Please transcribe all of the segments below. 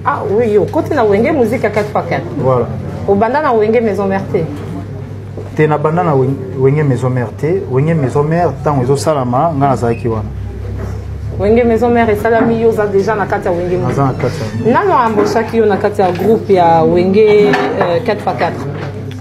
Ah oui, yo, côté na Wenge musique à 4x4. Voilà. Au banda na Wenge maison mère te. Te na banda na Wenge maison mère te. Wenge maison mère tango ezo salama nga nazalaki wana. Wenge maison mère esalami yo oza déjà na kati ya Wenge. Naza na kati ya. Nano amboshaki yo na kati ya groupe ya Wenge 4x4. Euh,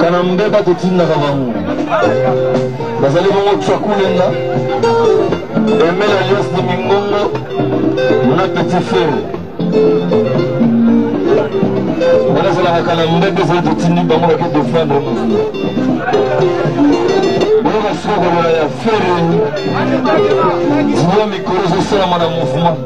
kana mbeba totindaka bango bazali bongo twakulenga emela lios de mingongo na petit frere wana ezalaka kana mbeba ezali totindi bango bake defendre mouvement oyo basuka kolola ya fere ziwa mikolo ezosalama na mouvement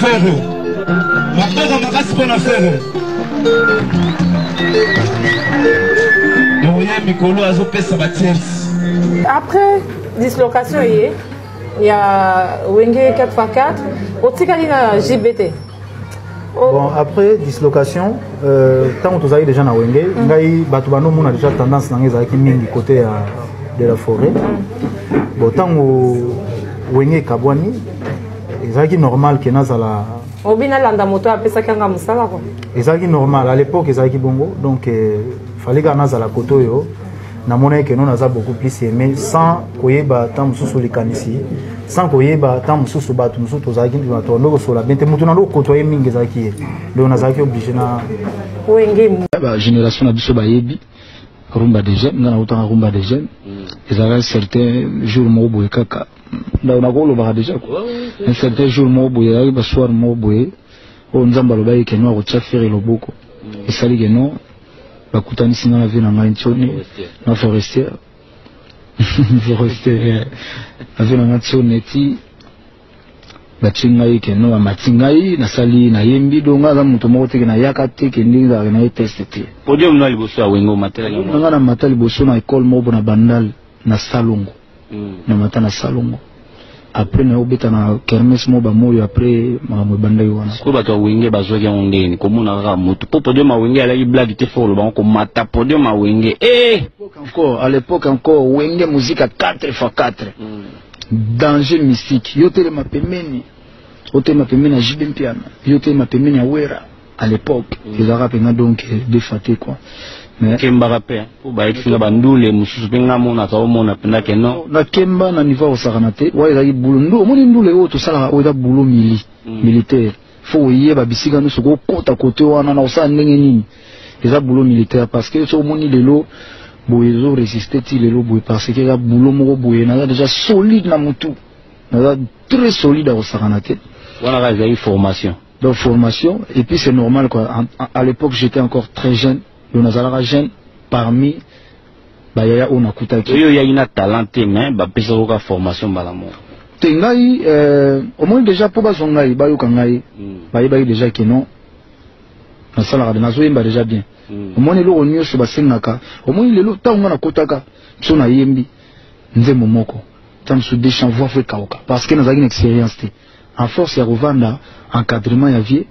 Ferre. Maboko makasi mpo na Ferre. Doyen Mikolo azopesa ba tiers. Après dislocation ye ya Wenge 4x4 otikali na JBT. Oh. Bon, après dislocation, euh, tant que déjà na Wenge, mm. ngai bato bano mona déjà tendance na ngai ezalaki mingi côté ya de la forêt. Mm. Bon, tant Wenge kabwani ezalaki normal ke nazala obi nalanda moto oyo apesaki yanga mosala kua ezalaki normal à l'époque ezalaki bongo donc euh, fallait kaka nazala kote oyo namonaki keno naza beaucoup plus aimé sans koyeba ntango mosusu likanisi sans koyeba ntango mosusu bato mosusu tozalaki bato ando kosola bien te moto nando kotoye mingi ezalaki ye donc nazalaki oblige na bagénération na biso bayebi rumba de jeune nga nautaka rumba de jeune mm. ezalaka certain jour moko boye kaka ndako na kolobaka deja ko un certain jour moko boye ayaki basoir moko boye oyo nzambe alobaki keno akotya fere loboko mm. esali keno bakutanisi nga na vie na ngai ntioni na forestier forestier eh. na vie na ngai ntioni eti batyi ngai keno bamati ngai nasali nayembi do ngai aza moto moko teke nayaka te ke ndenge ezalaka na ye teste te podium na liboso ya wengo omatelaki ngai na mata liboso na ekole moko mpo na bandale na salongo mm. na mata na salongo après naye obeta na kermes mo bamoyo après makambo ebandaki wana sikoyo bato ya wenge bazwaki yango ndeni komona kaka motu mpo podium ya wenge alaki blage te fo olobango komata podium ya wenge eh! encore à l'époque encore wenge muzika 4 fois 4 mm. danger mystique yo telema pembeni otelema pembeni ya jb mpiana yo otelema pembeni ya wera à l'époque mm. ezalaka mpenza donc defate quoi kembaka mpe mpo bayekisi nga bandule mosusu mpe nga monaka omona mpenza ke non na kemba na niveau ya kosakana te wa ezalaki bulo ndu omoni ndule oyo tosalaka oyo eza bulo mili mm. militaire fo oyeba bisika nyonso kokota kote wana na kosala ndenge nini eza bulo militaire parce que soki omoni lelo boye ezo resiste ti lelo boye parce que eza bulo moko boye naza déjà solide na motu naza très solide ya kosakana te wana kaka ezalaki formation Donc formation et puis c'est normal quoi. À l'époque j'étais encore très jeune, donc nazalaka jeune parmi bayaya oyo nakutaki. Oyo yaki na talent te mais bapesa oka formation mbala moko. Te ngai euh, omoni déjà mpo bazwa ngai bayoka ngai mm. bayebaki déjà ke non nasalaka nazoyemba déjà bien mm. omoni eloko nyonso basengaka omoni lelo ntango ngai nakotaka biso nayembi nzembo moko ntango mosusu deschanvoi fo ekauka parce que nazalaki na expérience te A force ya kovanda encadrement ya vie,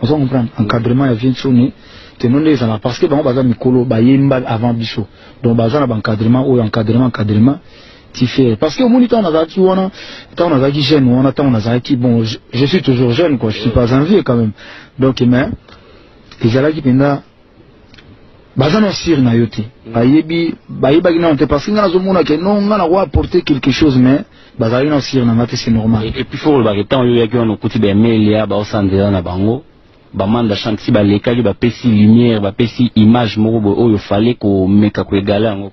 ozo comprendre encadrement ya vie nsone teno nde ezala parce que bango baza mikolo bayemba avant biso donc baza na ba encadrement oyo encadrement encadrement ti ferre parce que omoni ntango nazalaki wana ntango nazalaki jeune wana ntango nazalaki bon je, je suis toujours jeune quoi je suis pas un vieux quand même donc mais ezalaki mpenza baza na sire na yo te bayebi bayebaki nano te parce que ngai nazomona ke no ngai nako apporter quelque chose mais bazalaki na sire na ngai te c'est normal epuis fo kolobaka ntango yo oyaki wana okuti baemelia baosanzela na bango bamanda shanksi balekaki bapesi lumière bapesi image moko boye oyo fale komeka koegala yango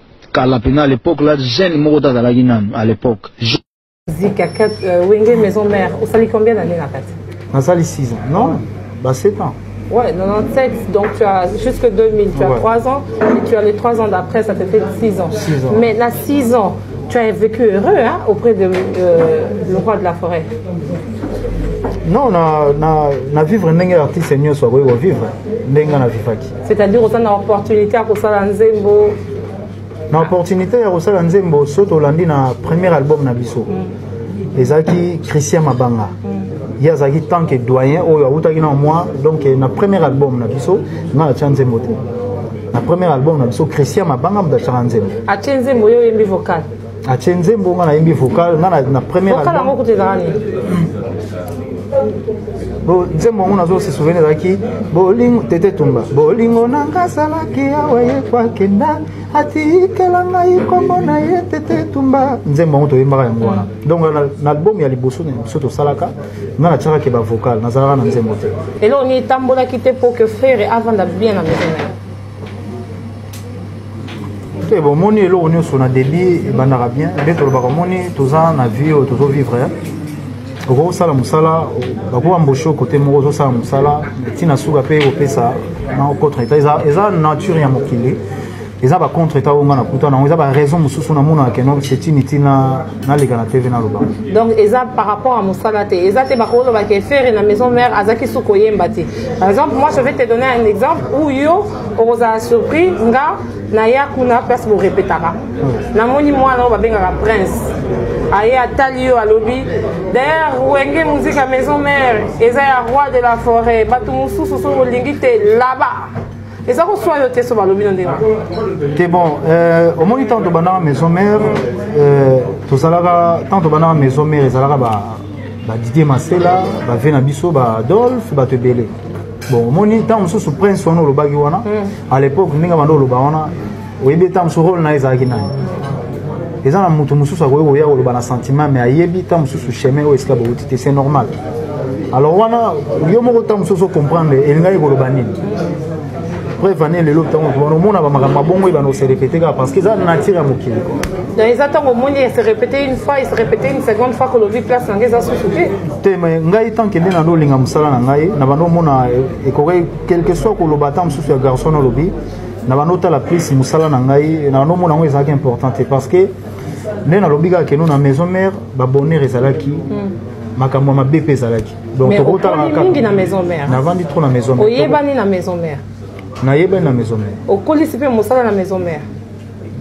kala pena à l'époque là jeune moko ta zalaki nanu à l'époque zika euh, wenge maison mère osali combien d'années na kati nasali 6 ans non ba 7 ans Ouais, 97, donc tu as jusque 2000, tu as ouais. 3 ans, et tu as les 3 ans d'après, ça te fait 6 ans. 6 ans. Mais là, 6 ans, tu as vécu heureux hein, auprès de euh, le roi de la forêt. Non, na, na, na vivre ndenge artiste nyonso akoki kovivre ndenge na vivaki c'est-à-dire oza na opportunité ya kosala nzembo na opportunité ya kosala nzembo so tolandi na premier album na biso mm. ezalaki christian mabanga mm. ye azalaki tant que doyen oyo awutaki na moi donc na premier album na biso nga natya nzembo te na premier album na biso christian mabanga moto atyaka nzembo atye nzembo yo oyembi vocal atie nzembo nga nayembi vocal nga na première vocal yango kutu ezalaka nini bo nzembo yango nazo se souvenir ezalaki bolingo tete tumba bolingo na nga asalaki awa ye kwakenda atikela ngai nkombo na ye tete tumba nzembo yango toyembaka yango wana donc na album ya liboso na biso tosalaka nga natiaka ke bavocal nazalaka na nzembo te eloko nini etambolaki te mpo ke frere avanda bien na maison na ye te bomoni eloko nyonso na debit ebandaka bien nde tolobaka omoni toza na vie oyo tozo vivre eh. okoki kosala mosala bakoki bamboshe kote moko ozosala mosala ntina suka mpe kopesa na contre etat eza, eza nature ya mokili eza ba contre etat oyo nga nakuta nango eza ba raison mosusu namonaka keno cetini ntina naleka na tv naloba donc eza par rapport ya mosala te eza te bakolobaka efere na maison mare azalaki su koyemba te par exemple moi je vais te donner un exemple où yo okozala surpris nga naya kuna place borepetaka namoni mwana oyo babengaka prince aye atali yo alobi d'ailleurs wenge musique ya maison mare eza ya roi de la forêt bato mosusu soki olingi te laba eza koswa yo te so balobi no ndenge te bon euh, omoni ntango tobandaka maison mare euh, tozalaka ntango tobandaka maison mare ezalaka ba didier masela bave na biso ba adolphe bato ebele bon omoni ntango mosusu prince wana olobaki wana hmm. à l'époque ndenge banda oloba wana oyebi ntango mosusu role na ye ezalaki nani eza na moto mosusu akoki koya koloba na sentiment mais ayebi ntango mosusu chemin oyo esika bouti te c'est normal alors wana yo moko ntango mosusu ocomprendre elingaki koloba nini preuve ane lelo ntango tobana omona bamakambo mabongo ebana ose répété kaka parce que eza nature ya mokili donc eza ntango omoni ese répété une fois ese répété une seconde fois kolobi place nange eza susu te te me ngai tant que nde nando olinga mosala na ngai na bando omona eh, ekoki quelque soit koloba ata mosusu ya garçon olobi na bando otala plus mosala na ngai na bando omona yango ezalaki important te parce que nde nalobi kaka keno na maison mère babonheur ezalaki hmm. makambo ya mabe mpe ezalaki donc tokotalaka kakamingi na maison mère navandi trop na maison mère oyebani na maison mère nayebani na maison mère okolisi mpe mosala na maison mère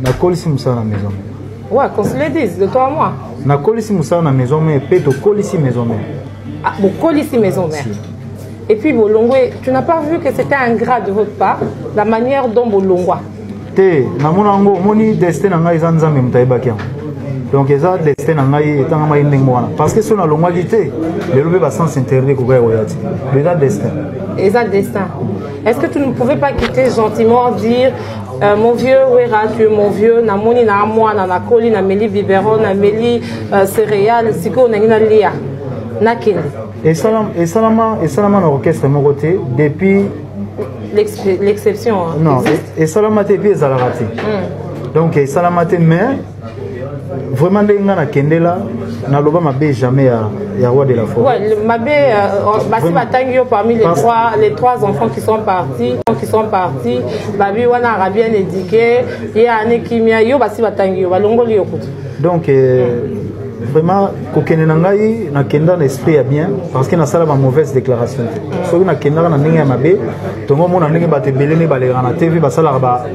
nakolisi mosala na maison mère Ouais, qu'on se le dise, de toi à moi. Na kolisi musala na maison mère, pe to kolisi maison mère. Ah, bon, kolisi maison mère. Et puis Bolongwe, tu n'as pas vu que c'était un gras de votre part, la manière dont Bolongwa. Te, na mona ngo, moni destin na ngai za nzambe mutayebaki yango. Donc eza destin na ngai etanga mai ndenge wana. Parce que sona longwa ki te, lelo pe ba sens interdit ko gaya oyati. Eza destin. Eza destin. Est-ce que tu ne pouvais pas quitter gentiment dire euh, mon vieux Wera, tu es mon vieux, na moni na moi na na koli na meli biberon na meli euh, céréales, siko na ngina lia. Na kende. Et salam et salama et salama na orchestre moko te depuis l'exception. Hein, non, et salama te puis ezalaka te. Hmm. Donc et salama te mais vraiment ndenge ngai nakendela naloba mabe jamais ya, ya roi de la forêt ouais, mabe euh, basi batangi yo parmi les trois, les trois enfants qui sont partis qui sont partis babi wana ara bien édiqué ye ane kimia yo basi batangi yo balongoli yo kutu donc euh, mm. vraiment kokende na ngai nakenda na esprit ya bien parce que nasala ba mauvaise déclaration te soki nakendaka na ndenge ya mabe tongo omona ndenge bato ebele nde balekaka na tv basalaka